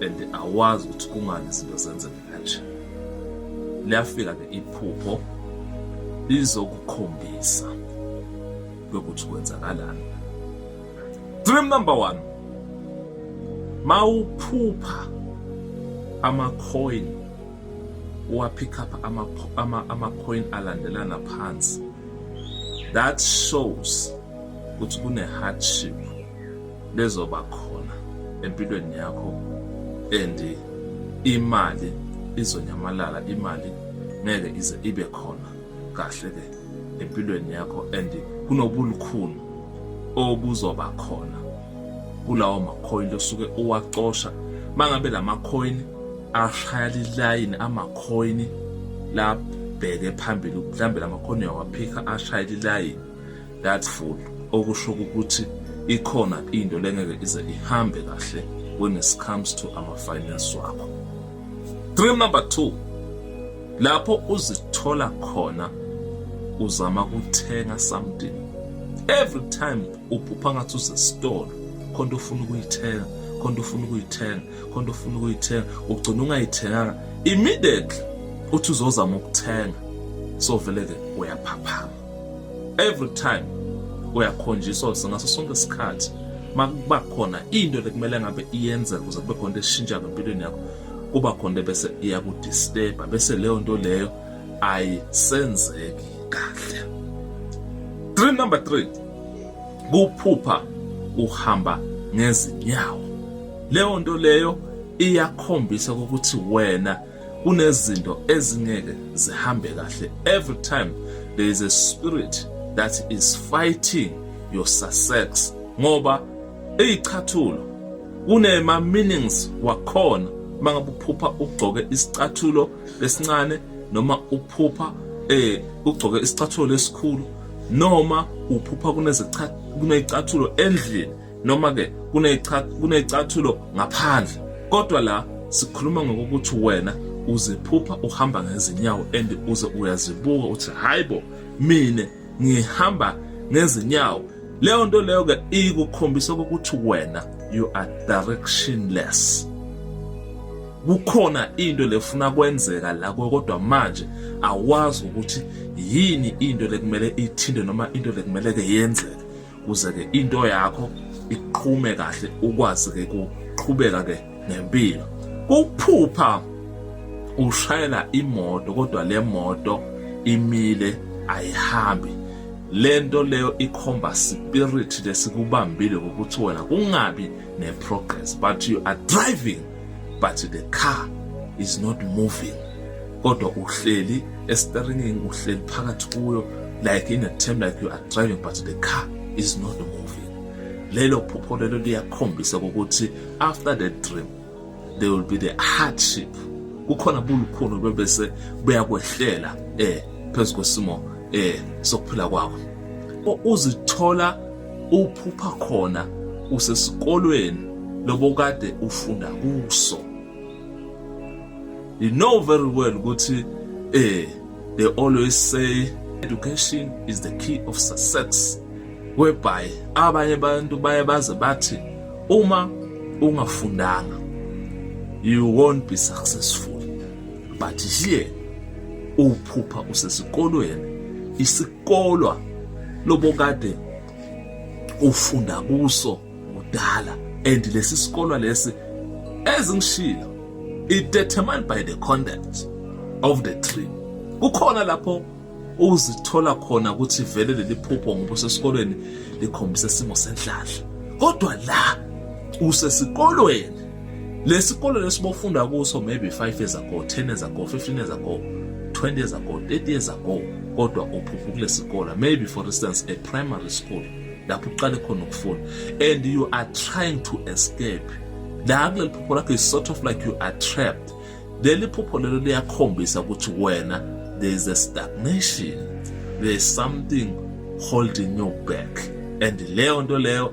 and awazi ukuthi kungani izinto zenzeke kanje liyafika ke iphupho lizokukhombisa lokuthi kwenzakalani dream number one mawuphupha amacoin wapick up amacoin alandelana phansi that shows ukuthi kune-hardship bezoba khona empilweni yakho and imali izonyamalala imali ngeke ize ibe khona kahle ke empilweni yakho and kunobulukhuni obuzoba khona kulawo makhoyini osuke uwacosha mangabe lamakhoyini ashaya lilayini amakhoyini labheke phambili mhlambe lamakhoyini uyawaphika ashaya lilayini that full okusho ukuthi ikhona into lengeke ize ihambe kahle when it comes to ama finance wakho dream number 2 lapho uzithola khona uzama kuthenga something every time uphupha ngathi uzesitolo khona ufuna ukuyithenga khona ufuna ukuyithenga khona ufuna ukuyithenga ugcina ungayithenganga immediately uthi uzozama ukuthenga so vele ke uyaphaphama every time uyakhonjiswa ngaso sonke isikhathi makuba khona into lekumele ngabe iyenzeka ukuze kube khona eshintsha ngempilweni yakho kuba khona bese iyakudisturba bese leyo nto leyo ayisenzeki kahle dream number 3 kuphupha uhamba ngezinyawo leyo nto leyo iyakhombisa ukuthi wena kunezinto ezingeke zihambe kahle every time there is a spirit that is fighting your success ngoba eyichathulo kunema meanings wakhona mangabe uphupha ugcoke isicathulo esincane noma uphupha eh ugcoke isicathulo esikhulu noma uphupha kunezicathulo kunezicathulo endlini noma ke kunecathulo ngaphandle kodwa la sikhuluma ngokuthi wena uziphupha uhamba ngezinyawo and uze uyazibuka uthi hayibo mina ngihamba ngezinyawo leyo nto leyo ke ikukhombisa ukuthi wena you are directionless kukhona into lefuna kwenzeka la kodwa manje awazi ukuthi yini into lekumele ithinte noma into lekumele ke yenzeke kuze ke into yakho iqhume kahle ukwazi ke kuqhubeka ke nempilo kuphupha ushayela imoto kodwa le moto imile ayihambi lento leyo ikhomba spirit lesikubambile ukuthi wena kungabi ne progress but you are driving but the car is not moving kodwa uhleli esteringini uhleli phakathi kuyo like in a term like you are driving but the car is not moving lelo phupho lelo liyakhombisa ukuthi after the dream there will be the hardship kukhona bulukhulu bebese buyakwehlela eh phezu kwesimo eh sokuphila kwakho uzithola uphupha khona usesikolweni lobokade ufunda kuso you know very well ukuthi eh they always say education is the key of success whereby abanye abantu baye baze bathi uma ungafundanga you won't be successful but here uphupha usesikolweni kolwa lobokade ufunda kuso kudala and lesi sikolwa lesi ezingishilo it determined by the content of the tree kukhona lapho uzithola khona ukuthi vele leli phupho ngoba usesikolweni likhombisa isimo senhlanhla kodwa la usesikolweni lesikole lesibofunda kuso maybe 5 years ago 10 years ago 15 years ago 20 years ago 30 years ago kodwa uphupha kulesikole maybe for instance a primary school lapho uqale khona ukufunda and you are trying to escape la kuleli phupho lakho is sort of like you are trapped leli phupho lelo liyakhombisa ukuthi wena there is a stagnation there is something holding you back and leyo nto leyo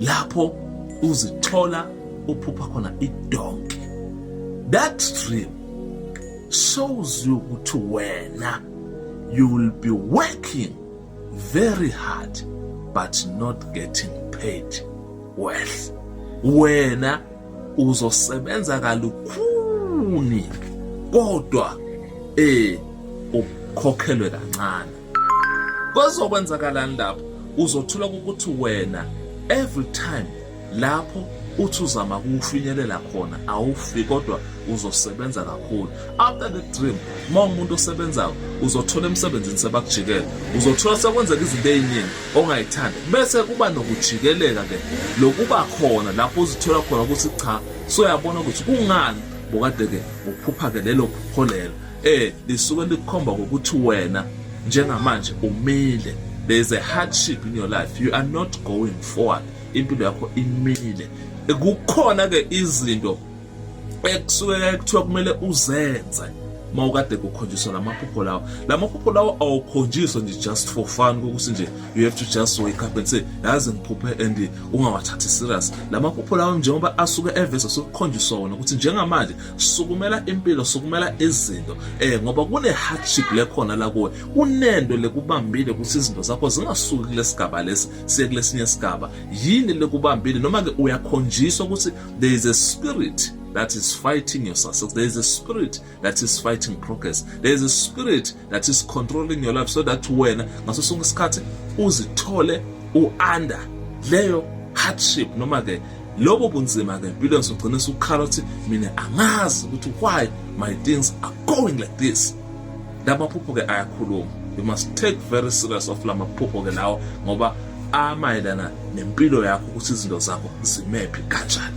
lapho uzithola uphupha khona idonki that dream shows you ukuthi wena you will be working very hard but not getting paid well wena uzosebenza kalukhuni kodwa eh ukhokhelwe kancane Kwezokwenzakalani lapho uzothola ukuthi wena every time lapho uthi uzama kuwufinyelela khona awufi kodwa uzosebenza kakhulu after the dream uma umuntu osebenzayo uzothola emsebenzini sebakujikela uzothola sekwenzeka izinto eziningi ongayithandi bese kuba nokujikeleka ke lokuba khona lapho uzithola khona ukuthi cha soyabona ukuthi kungani bokade ke uphupha ke lelo phupho lelo eh lisuke likukhomba ngokuthi wena njengamanje umile there is a hardship in your life you are not going forward impilo yakho imile kukhona ke izinto ekusuke kuthiwa kumele uzenze mawukade kukhonjiswa lamaphupho lawo lamaphupho lawo awukhonjiswa nje just for fun kokuthi nje you have to just wake up and say yazi ngiphuphe and ungawathathi serious lamaphupho lawo njengoba asuke eveza sokukhonjiswa wona ukuthi njengamanje sukumela impilo sukumela izinto eh ngoba kune hardship lekhona la kuwe kunento lekubambile ukuthi izinto zakho zingasuki kulesigaba lesi siye kulesinye isigaba yini lekubambile noma ke uyakhonjiswa ukuthi there is a spirit that is fighting your success there is a spirit that is fighting progress there is a spirit that is controlling your life so that wena ngaso sonke isikhathi uzithole u-under leyo hardship noma ke lobo bunzima ke empilweni sogcina sukhala ukuthi mina angazi ukuthi why my things are going like this lamaphupho ke ayakhuluma you must take very serious of lamaphupho ke lawo ngoba amayelana nempilo yakho ukuthi izinto zakho zimephi kanjani